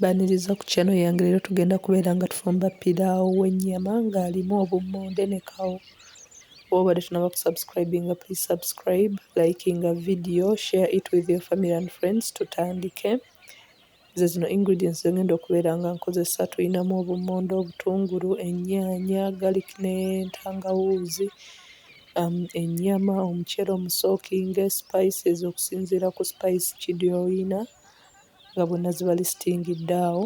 Baniriza ku channel yange leero tugenda kubeera nga tufumba pilaawo w'ennyama ng'alimu obummonde ne kawo. Wobadde tunaba ku subscribinga please subscribe, likinga video, share it with your family and friends tutandike. Ze zino ingredients ze ngenda okubeera nga nkozesa tulinamu obummonde, obutungulu, ennyaanya, garlic n'entangawuuzi, um, ennyama, omuceere omusookinge, spices okusinziira ku spice ki gy'olina. nga bwonna ziba zisitingidde awo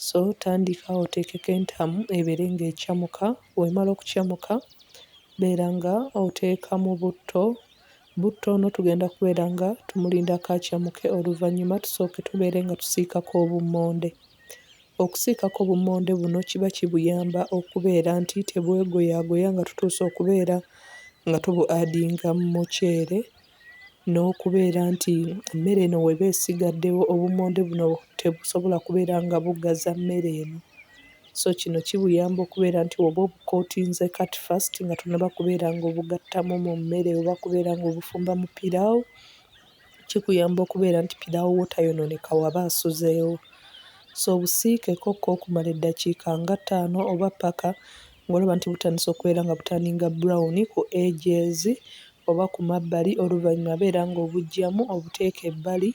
so tandika oteekeko entamu ebeere ng'ecamuka bw'emala okucamuka beera nga oteekamu butto, butto ono tugenda kubeera nga tumulindako acamuke oluvannyuma tusooke tubeere nga tusiikako obummonde. Okusiikako obummonde buno kiba kibuyamba okubeera nti tebwegoyaagoya nga tutuuse okubeera nga tubu-adinga mu muceere. n'okubeera nti emmere eno weba esigaddewo obummonde buno tebusobola kubeera nga buggaza mmere eno so kino kibuyamba okubeera nti oba obukootinze kati first nga tonaba kubeera nga obugattamu mu mmere oba kubeera nga obufumba mu piraawo kikuyamba okubeera nti piraawo wo tayonooneka waba asuzeewo so obusiikeko ko okumala eddakiika nga ttaano oba ppaka ng'olaba nti butandise okubeera nga butandinga brown ku edges oba ku mabbali oluvannyuma beera ng'obuggyamu obuteeke ebbali.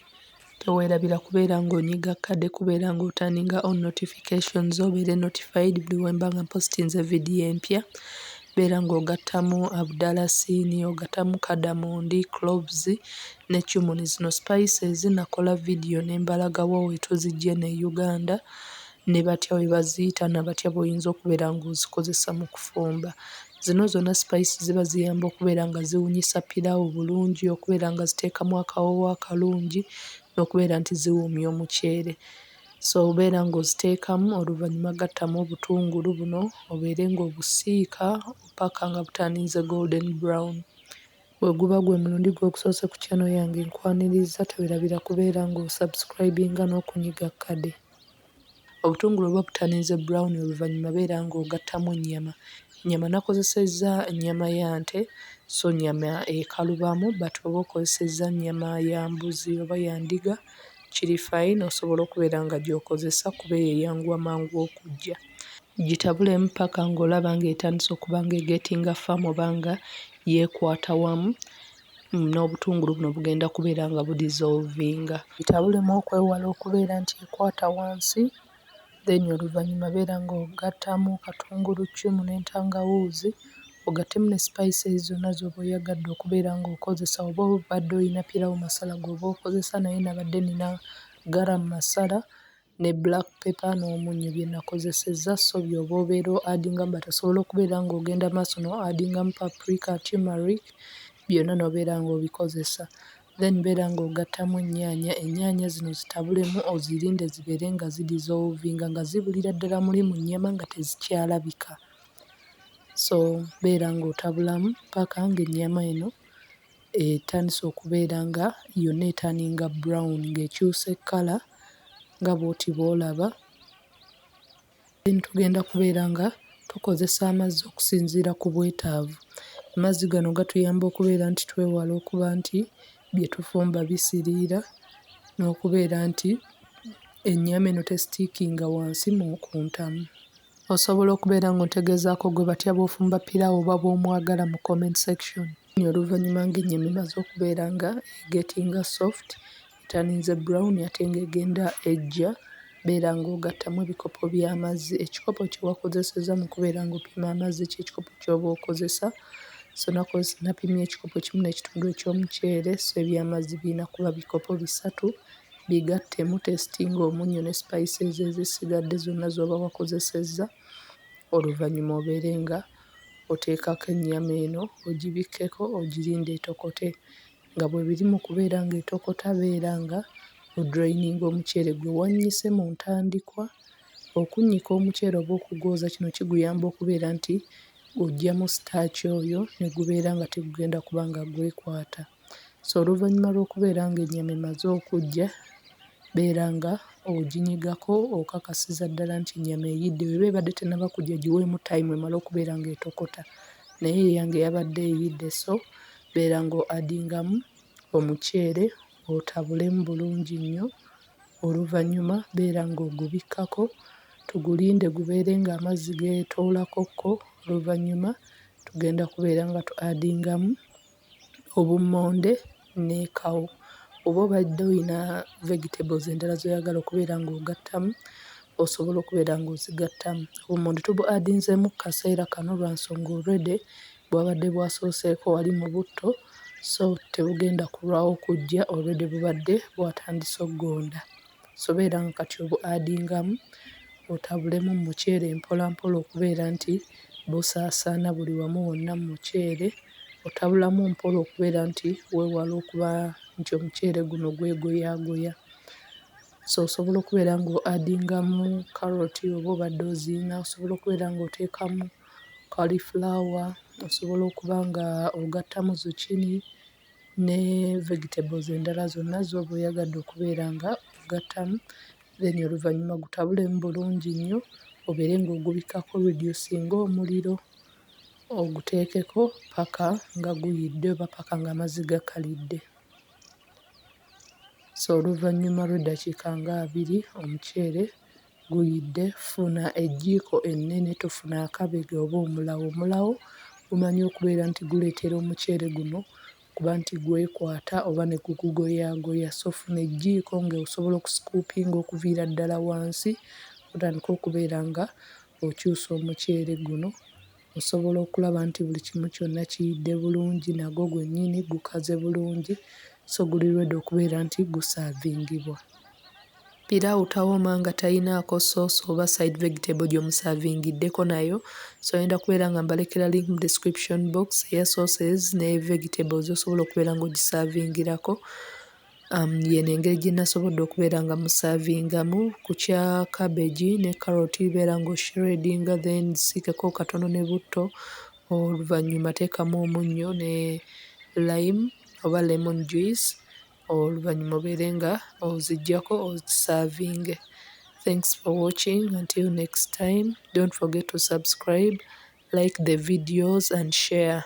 Teweerabira kubeera ng'onyiga kkade kubeera ng'otaninga on notifications obeere notified buli we mba nga mpositinze vidiyo empya. Beera ng'ogattamu abudalasiini, ogattamu kadamondi, cloves ne cumin. Zino spices nakola vidiyo ne mbalaga wa we tuziggye eno e Uganda. ne batya bwe baziyita na batya bw'oyinza okubeera ng'ozikozesa mu kufumba. Zino zonna sipayisi ziba ziyamba okubeera nga ziwunyisa piraawo bulungi, okubeera nga ziteekamu akawoowo akalungi n'okubeera nti ziwoomya omuceere. So beera ng'oziteekamu oluvannyuma gattamu obutungulu buno obeere ng'obusiika paka nga butandinze golden brown. Bwe guba gwe mulundi gwo ogusoose ku channel yange nkwaniriza tewerabira kubeera ng'osubscribinga n'okunyiga kkade. Obutungulu oba obutamiiza brown oluvanyuma beera nga ogattamu ennyama. Ennyama nakozesezza nnyama ya nte so nnyama ekalubamu but oba okozesezza nnyama ya mbuzi oba ya ndiga kiri fine osobola okubeera nga gy'okozesa kuba eyo eyanguwa mangu okuggya. Gitabulemu paka ng'olaba ng'etandise okuba nga egetinga firm oba nga yeekwata wamu. n'obutungulu buno bugenda kubeera nga bu dissolvinga. Bitabulemu okwewala okubeera nti ekwata wansi then oluvannyuma beera nga ogattamu katunguluccumu n'entangawuuzi ogattemu ne spices zonna z'oba oyagadde okubeera nga okozesa oba obadde olina pillawo masala g'oba okozesa naye nabadde nina garam masala. ne black paper n'omunnyo bye nakozesezza so by'oba obeera o addinga but osobola okubeera ng'ogenda maaso no addingamu paprika, tumeric byonna n'obeera ng'obikozesa then beera ng'ogattamu ennyaanya, ennyaanya zino zitabulemu ozirinde zibeere nga zi dissolvinga nga zibulira ddala muli mu nnyama nga tezikyalabika so beera ng'otabulamu ppaaka ng'ennyama eno. etandise okubeera nga yonna etanninga brown ng'ekyuse kkala nga bw'oti bw'olaba. Then tugenda kubeera nga tukozesa amazzi okusinziira ku bwetaavu. Amazzi gano gatuyamba okubeera nti twewala okuba nti bye tufumba bisiriira n'okubeera nti ennyama eno tesitiikinga wansi mu ku ntamu. Osobola okubeera ng'otegeezaako gwe batya bw'ofumba piraawo oba bw'omwagala mu comment section. Oluuyi oluvannyuma ng'ennyama emaze okubeera nga egeetinga soft, eturninze brown ate ng'egenda eggya, beera ng'ogattamu ebikopo by'amazzi. Ekikopo kye wakozesezza mu kubeera ng'opima amazzi kye kikopo ky'oba okozesa. So nakozesa, napimye ekikopo kimu n'ekitundu eky'omuceere, so eby'amazzi birina kuba bikopo bisatu. Bigattemu otesitinge omunnyo ne spices ezisigadde zonna z'oba wakozesezza, oluvannyuma obeere nga... oteekako ennyama eno ogibikkeko ogirinde etokote nga bwe biri mu kubeera ng'etokota beera nga odrayininga omuceere gwe wannyise mu ntandikwa. Okunnyika omuceere oba okugwoza kino kiguyamba okubeera nti oggyamu sitaaki oyo ne gubeera nga tegugenda kuba nga gwekwata. So oluvannyuma lw'okubeera ng'ennyama emaze okuggya, beera nga oginyigako okakasiza ddala nti ennyama eyidde. Bw'eba ebadde tennaba kuggya giweemu tayimu emale okubeera ng'etokota. Naye eyange yabadde eyidde so beera ng'oadingamu omuceere otabulemu bulungi nnyo. Oluvannyuma beera ng'ogubikkako tugulinde gubeere ng'amazzi geetoolakokko. Oluvannyuma tugenda kubeera nga tuadingamu... obummonde ne kawo oba obadde olina vegetables endala z'oyagala okubeera ng'ogattamu osobola okubeera ng'ozigattamu. Obummonde tubu adinzeemu ku kaseera kano lwa nsonga already bwabadde bwasooseeko wali mu butto so tebugenda kulwawo kujja already bubadde bwatandise okugonda. Sobo era nga kati obu adingamu otabulemu mu muceere mpola mpola okubeera nti busaasaana buli wamu wonna mu muceere. Otabulamu mpola okubeera nti weewala okuba nti omuceere guno gwegoyaagoya. So osobola okubeera nga o adingamu kkaloti oba obadde oziyiina, osobola okubeera nga oteekamu kkalifulaawa, osobola okuba nga ogattamu zucchini. ne vegetables endala zonna zooba oyagadde okubeera nga ogattamu then oluvannyuma ogutabulemu bulungi nnyo obeere nga ogubikkako reducinga omuliro oguteekeko ppaka nga guyidde oba ppaka nga amazzi gakalidde. So oluvannyuma lw'eddakiika nga abiri omuceere... guyidde funa ejjiiko ennene tofuna akabega oba omulawo, omulawo gumanyi okubeera nti guleetera omuceere guno okuba nti gwekwata oba ne gugugoyaagoya so funa ejjiiko ng'osobola okusikuupinga okuviira ddala wansi otandike okubeera nga okyusa omuceere guno. Osobola okulaba nti buli kimu kyonna kiyidde bulungi nagwo gwennyini gukaze bulungi so guli ready okubeera nti gusaavingibwa. Piraawo tawoma nga talinaako sauce oba side vegetable gy'omusaavingiddeko nayo so ngenda kubeera nga mbalekera link mu description box eya sauces ne vegetable z'osobola okubeera ng'ogisaavingirako. Um, yeno engeri gye nasobodde okubeera nga musavingamu ku kya cabbage ne carrot beera nga oshiredinga then siikeko katono ne butto oluvannyuma teekamu omunnyo ne lime oba lemon juice oluvannyuma obeere nga oziggyako ozisavinge thanks for watching until next time don't forget to subscribe like the videos and share